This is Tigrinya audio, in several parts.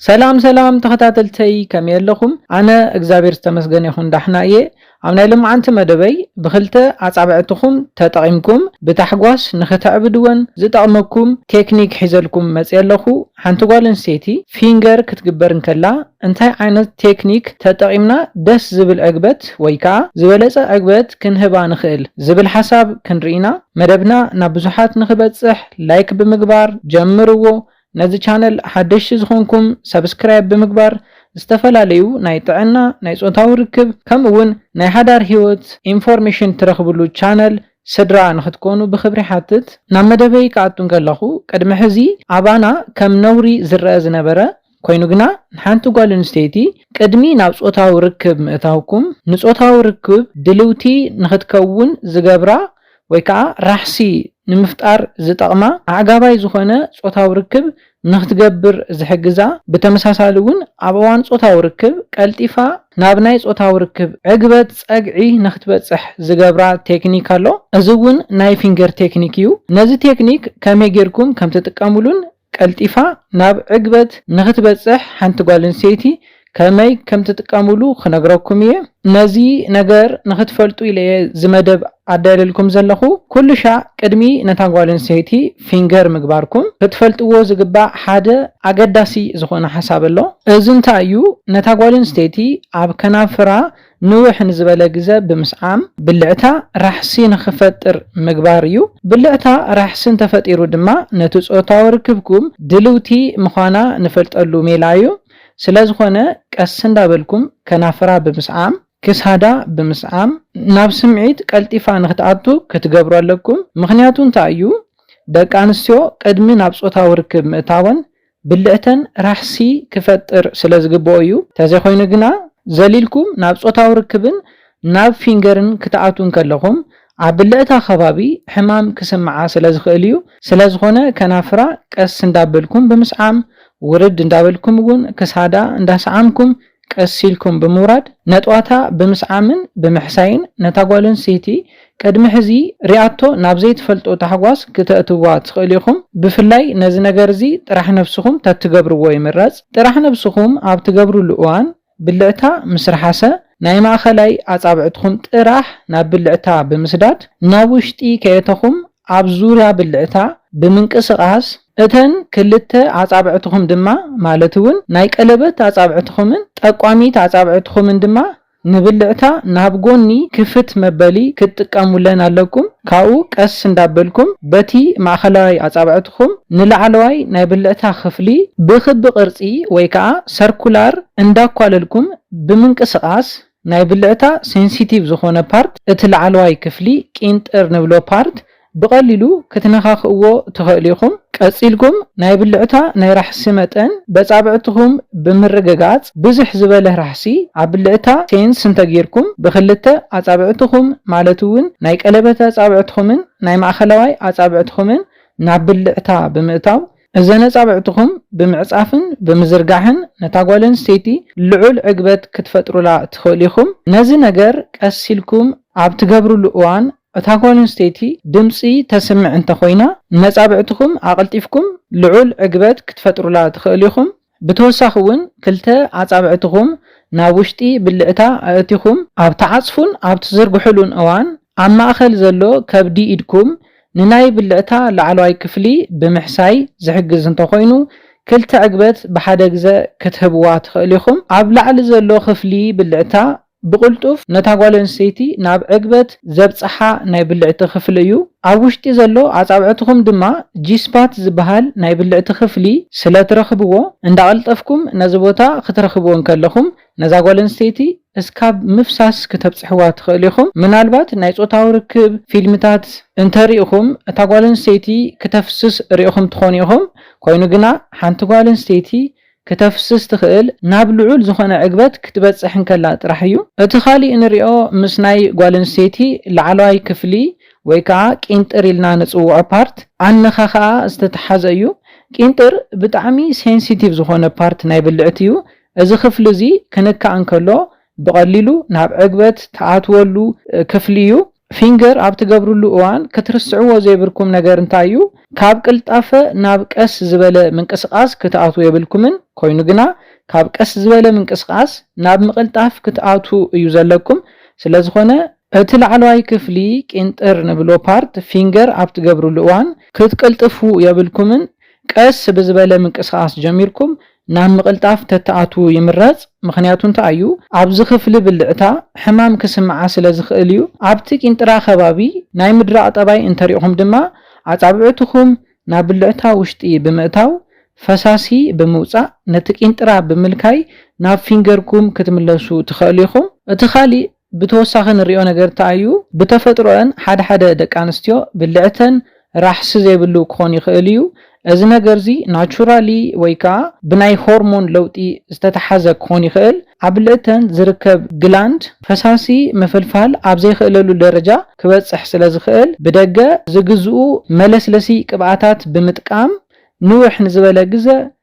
ሰላም ሰላም ተኸታተልተይ ከመይ ኣለኹም ኣነ እግዛብሔር ዝተመስገነ ይኹን ዳሕና እየ ኣብ ናይ ሎምዓንቲ መደበይ ብኽልተ ኣጻብዕትኹም ተጠቒምኩም ብታሕጓስ ንኽተዕብድወን ዝጠቕመኩም ቴክኒክ ሒዘልኩም መጽየ ኣለኹ ሓንቲ ጓል ኣንስተይቲ ፊንገር ክትግበር እንከላ እንታይ ዓይነት ቴክኒክ ተጠቒምና ደስ ዝብል ዕግበት ወይ ከኣ ዝበለጸ ዕግበት ክንህባ ንኽእል ዝብል ሓሳብ ክንርኢ ኢና መደብና ናብ ብዙሓት ንኽበጽሕ ላይክ ብምግባር ጀምርዎ ነዚ ቻነል ሓደሽቲ ዝኾንኩም ሰብስክራይብ ብምግባር ዝተፈላለዩ ናይ ጥዕና፣ ናይ ፆታዊ ርክብ ከምኡ ውን ናይ ሓዳር ሂወት ኢንፎርሜሽን ትረኽብሉ ቻነል ስድራ ንኽትኮኑ ብኽብሪ ይሓትት። ናብ መደበይ ክኣቱ እንከለኹ ቅድሚ ሕዚ ኣባና ከም ነውሪ ዝረኣ ዝነበረ ኮይኑ ግና ንሓንቲ ጓል ኣንስተይቲ ቅድሚ ናብ ፆታዊ ርክብ ምእታውኩም ንፆታዊ ርክብ ድልውቲ ንኽትከውን ዝገብራ ወይ ከኣ ራሕሲ ንምፍጣር ዝጠቕማ ኣዕጋባይ ዝኾነ ጾታዊ ርክብ ንኽትገብር ዝሕግዛ፣ ብተመሳሳሊ እውን ኣብ እዋን ጾታዊ ርክብ ቀልጢፋ ናብ ናይ ጾታዊ ርክብ ዕግበት፣ ጸግዒ፣ ንኽትበጽሕ ዝገብራ ቴክኒክ ኣሎ። እዚ እውን ናይ ፊንገር ቴክኒክ እዩ። ነዚ ቴክኒክ ከመይ ጌርኩም ከምትጥቀምሉን ቀልጢፋ ናብ ዕግበት ንኽትበጽሕ ሓንቲ ጓል ኣንስተይቲ ከመይ ከም ትጥቀምሉ ክነግረኩም እየ። ነዚ ነገር ንኽትፈልጡ ኢለ እየ እዚ መደብ ኣዳልየልኩም ዘለኹ። ኩሉሻዕ ቅድሚ ነታ ጓል ኣንስተይቲ ፊንገር ምግባርኩም ክትፈልጥዎ ዝግባእ ሓደ ኣገዳሲ ዝኾነ ሓሳብ ኣሎ። እዚ እንታይ እዩ ነታ ጓል ኣንስተይቲ ኣብ ከናፍራ ንውሕ ንዝበለ ግዘ ብምስዓም ብልዕታ ራሕሲ ንኽፈጥር ምግባር እዩ። ብልዕታ ራሕሲ እንተፈጢሩ ድማ ነቲ ፆታዊ ርክብኩም ድልውቲ ምዃና ንፈልጠሉ ሜላ እዩ። ስለዝኾነ ቀስ እንዳበልኩም ከናፍራ ብምስዓም፣ ክሳዳ ብምስዓም ናብ ስምዒት ቀልጢፋ ንኽትኣቱ ክትገብሩ ኣለኩም። ምኽንያቱ እንታይ እዩ? ደቂ ኣንስትዮ ቅድሚ ናብ ፆታዊ ርክብ ምእታወን ብልዕተን ራሕሲ ክፈጥር ስለ ዝግበኦ እዩ። ተዘይኮይኑ ግና ዘሊልኩም ናብ ጾታዊ ርክብን ናብ ፊንገርን ክትኣትዉ እንከለኹም ኣብ ብልዕታ ከባቢ ሕማም ክስምዓ ስለ ዝኽእል እዩ። ስለ ዝኾነ ከናፍራ ቀስ እንዳበልኩም ብምስዓም፣ ውርድ እንዳበልኩም እውን ክሳዳ እንዳሰዓምኩም ቀስ ኢልኩም ብምውራድ ነጥዋታ ብምስዓምን ብምሕሳይን ነታ ጓል ኣንስተይቲ ቅድሚ ሕዚ ሪኣቶ ናብ ዘይትፈልጦ ታሕጓስ ክተእትውዋ ትኽእሉ ኢኹም ብፍላይ ነዚ ነገር እዚ ጥራሕ ነብስኹም ተትገብርዎ ይምረጽ ጥራሕ ነብስኹም ኣብ ትገብርሉ እዋን ብልዕታ ምስ ርሓሰ ናይ ማእኸላይ ኣጻብዕትኹም ጥራሕ ናብ ብልዕታ ብምስዳድ ናብ ውሽጢ ከየተኹም ኣብ ዙርያ ብልዕታ ብምንቅስቓስ፣ እተን ክልተ ኣጻብዕትኹም ድማ፣ ማለት እውን ናይ ቀለበት ኣጻብዕትኹምን ጠቋሚት ኣጻብዕትኹምን ድማ፣ ንብልዕታ ናብ ጎኒ ክፍት መበሊ ክትጥቀሙለን ኣለኩም። ካብኡ ቀስ እንዳበልኩም በቲ ማእኸላይ ኣጻብዕትኹም ንላዕለዋይ ናይ ብልዕታ ክፍሊ ብክቢ ቅርጺ ወይ ከዓ ሰርኩላር እንዳኳለልኩም ብምንቅስቓስ፣ ናይ ብልዕታ ሴንሲቲቭ ዝኾነ ፓርት እቲ ላዕለዋይ ክፍሊ ቂንጥር ንብሎ ፓርት ብቀሊሉ ክትነካክእዎ ትኸእሉ ኢኹም ቀጺልኩም ናይ ብልዕታ ናይ ራሕሲ መጠን በጻብዕትኹም ብምርግጋጽ ብዝሕ ዝበለ ራሕሲ ኣብ ብልዕታ ሴንስ እንተጊርኩም ብክልተ ኣጻብዕትኹም ማለት እውን ናይ ቀለበት ኣጻብዕትኹምን ናይ ማእኸላዋይ ኣጻብዕትኹምን ናብ ብልዕታ ብምእታው እዘን ኣጻብዕትኹም ብምዕጻፍን ብምዝርጋሕን ነታ ጓል ኣንስተይቲ ልዑል ዕግበት ክትፈጥሩላ ትኽእሉ ኢኹም። ነዚ ነገር ቀስ ኢልኩም ኣብ ትገብሩሉ እዋን እታ ጓል ኣንስተይቲ ድምጺ ተስምዕ እንተ ኾይና፣ ነጻብዕትኹም ኣቐልጢፍኩም ልዑል ዕግበት ክትፈጥሩላ ትኽእሉ ኢኹም። ብተወሳኺ ውን ክልተ ኣጻብዕትኹም ናብ ውሽጢ ብልዕታ ኣእቲኹም ኣብ ትዓጽፉን ኣብ ትዝርግሑሉን እዋን ኣብ ማእከል ዘሎ ከብዲ ኢድኩም ንናይ ብልዕታ ላዕለዋይ ክፍሊ ብምሕሳይ ዝሕግዝ እንተኾይኑ ክልተ ዕግበት ብሓደ ግዘ ክትህብዋ ትኽእሉ ኢኹም። ኣብ ላዕሊ ዘሎ ክፍሊ ብልዕታ ብቕልጡፍ ነታ ጓል ኣንስተይቲ ናብ ዕግበት ዘብጽሓ ናይ ብልዕቲ ክፍሊ እዩ። ኣብ ውሽጢ ዘሎ ኣጻብዕትኹም ድማ ጂ-ስፓት ዝበሃል ናይ ብልዕቲ ክፍሊ ስለ ትረኽብዎ፣ እንዳቐልጠፍኩም ነዚ ቦታ ክትረኽብዎ እንከለኹም፣ ነዛ ጓል ኣንስተይቲ እስካብ ምፍሳስ ክተብጽሕዋ ትኽእሉ ኢኹም። ምናልባት ናይ ጾታዊ ርክብ ፊልምታት እንተ ርኢኹም፣ እታ ጓል ኣንስተይቲ ክተፍስስ ርኢኹም ትኾኑ ኢኹም። ኮይኑ ግና ሓንቲ ጓል ኣንስተይቲ ክተፍስስ ትኽእል ናብ ልዑል ዝኾነ ዕግበት ክትበጽሕ እንከላ ጥራሕ እዩ። እቲ ካሊእ ንሪኦ ምስ ናይ ጓል ኣንስተይቲ ላዕለዋይ ክፍሊ ወይ ከኣ ቂንጥር ኢልና ንጽውዖ ፓርት ኣንኻኽኣ ዝተተሓዘ እዩ። ቂንጥር ብጣዕሚ ሴንሲቲቭ ዝኾነ ፓርት ናይ ብልዕቲ እዩ። እዚ ክፍሊ እዚ ክንካእ እንከሎ ብቐሊሉ ናብ ዕግበት ትኣትወሉ ክፍሊ እዩ። ፊንገር ኣብ ትገብርሉ እዋን ክትርስዕዎ ዘይብርኩም ነገር እንታይ እዩ? ካብ ቅልጣፈ ናብ ቀስ ዝበለ ምንቅስቓስ ክትኣትዉ የብልኩምን፣ ኮይኑ ግና ካብ ቀስ ዝበለ ምንቅስቓስ ናብ ምቕልጣፍ ክትኣትዉ እዩ ዘለኩም። ስለዝኾነ፣ እቲ ላዕለዋይ ክፍሊ ቂንጥር ንብሎ ፓርት ፊንገር ኣብ ትገብርሉ እዋን ክትቅልጥፉ የብልኩምን፣ ቀስ ብዝበለ ምንቅስቓስ ጀሚርኩም ናብ ምቕልጣፍ ተትኣትዉ ይምረጽ ምኽንያቱ እንታይ እዩ ኣብዚ ክፍሊ ብልዕታ ሕማም ክስምዓ ስለ ዝኽእል እዩ ኣብቲ ቂንጥራ ከባቢ ናይ ምድራቕ ጠባይ እንተሪእኹም ድማ ኣጻብዕትኹም ናብ ብልዕታ ውሽጢ ብምእታው ፈሳሲ ብምውጻእ ነቲ ቂንጥራ ብምልካይ ናብ ፊንገርኩም ክትምለሱ ትኸእሉ ኢኹም እቲ ካሊእ ብተወሳኺ ንሪኦ ነገር እንታይ እዩ? ብተፈጥሮኣን ሓደ ሓደ ደቂ ኣንስትዮ ብልዕተን ራሕሲ ዘይብሉ ክኾን ይኽእል እዩ። እዚ ነገር እዚ ናቹራሊ ወይ ከዓ ብናይ ሆርሞን ለውጢ ዝተተሓዘ ክኾን ይኽእል። ኣብ ብልዕተን ዝርከብ ግላንድ ፈሳሲ ምፍልፋል ኣብ ዘይኽእለሉ ደረጃ ክበፅሕ ስለ ዝኽእል ብደገ ዝግዝኡ መለስለሲ ቅብኣታት ብምጥቃም ንውሕ ንዝበለ ግዘ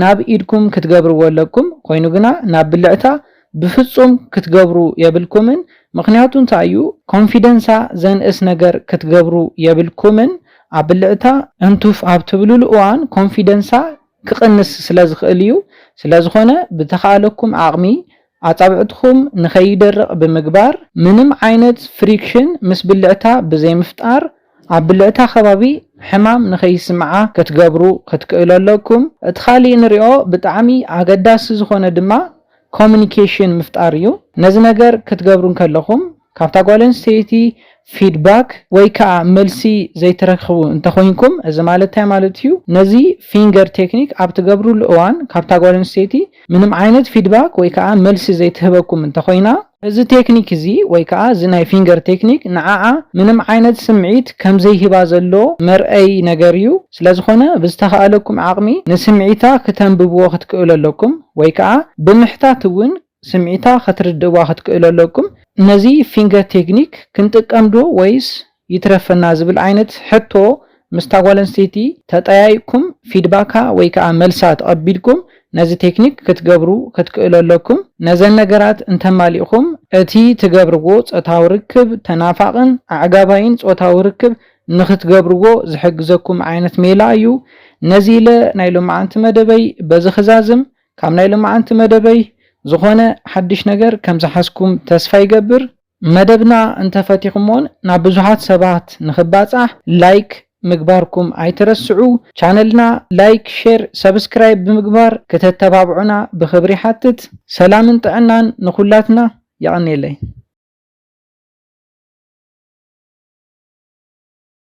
ናብ ኢድኩም ክትገብርዎ ኣለኩም ኮይኑ ግና ናብ ብልዕታ ብፍጹም ክትገብሩ የብልኩምን ምክንያቱ እንታይ እዩ ኮንፊደንሳ ዘንእስ ነገር ክትገብሩ የብልኩምን ኣብ ብልዕታ እንቱፍ ኣብ ትብልሉ እዋን ኮንፊደንሳ ክቅንስ ስለ ዝክእል እዩ ስለዝኮነ ብተካኣለኩም ዓቅሚ ኣጻብዕትኹም ንኸይደርቕ ብምግባር ምንም ዓይነት ፍሪክሽን ምስ ብልዕታ ብዘይምፍጣር ኣብ ብልዕታ ከባቢ ሕማም ንኸይስምዓ ክትገብሩ ክትክእሉ ኣለኩም። እቲ ካሊእ ንሪኦ ብጣዕሚ ኣገዳሲ ዝኾነ ድማ ኮሙኒኬሽን ምፍጣር እዩ። ነዚ ነገር ክትገብሩ እንከለኹም ካብታ ጓል ኣንስተይቲ ፊድባክ ወይ ከኣ መልሲ ዘይትረክቡ እንተኾይንኩም እዚ ማለት እንታይ ማለት እዩ ነዚ ፊንገር ቴክኒክ ኣብ ትገብርሉ እዋን ካብታ ጓል ኣንስተይቲ ምንም ዓይነት ፊድባክ ወይ ከኣ መልሲ ዘይትህበኩም እንተኾይና እዚ ቴክኒክ እዚ ወይ ከኣ እዚ ናይ ፊንገር ቴክኒክ ንዓዓ ምንም ዓይነት ስምዒት ከምዘይህባ ዘሎ መርኣዪ ነገር እዩ ስለዝኾነ ብዝተኻእለኩም ዓቕሚ ንስምዒታ ክተንብብዎ ክትክእሉ ኣለኩም ወይ ከኣ ብምሕታት እውን ስምዒታ ከትርድእዋ ክትክእሉ ኣለኩም። ነዚ ፊንገር ቴክኒክ ክንጥቀም ዶ ወይስ ይትረፈና ዝብል ዓይነት ሕቶ ምስታ ጓል ኣንስተይቲ ተጠያይቅኩም ፊድባካ ወይ ከኣ መልሳ ተቐቢልኩም ነዚ ቴክኒክ ክትገብሩ ክትክእሉ ኣለኩም። ነዘን ነገራት እንተማሊእኩም እቲ ትገብርዎ ጾታዊ ርክብ ተናፋቕን ኣዕጋባይን ጾታዊ ርክብ ንኽትገብርዎ ዝሕግዘኩም ዓይነት ሜላ እዩ። ነዚ ኢለ ናይ ሎምዓንቲ መደበይ በዚ ክዛዝም። ካብ ናይ ልማዓንቲ መደበይ ዝኾነ ሓድሽ ነገር ከም ዝሓዝኩም ተስፋ ይገብር። መደብና እንተ ፈቲኹሞን ናብ ብዙሓት ሰባት ንኽባጻሕ ላይክ ምግባርኩም ኣይትረስዑ። ቻነልና ላይክ ሼር ሰብስክራይብ ብምግባር ክተተባብዑና ብኽብሪ ይሓትት። ሰላምን ጥዕናን ንኹላትና። የቐኔለይ።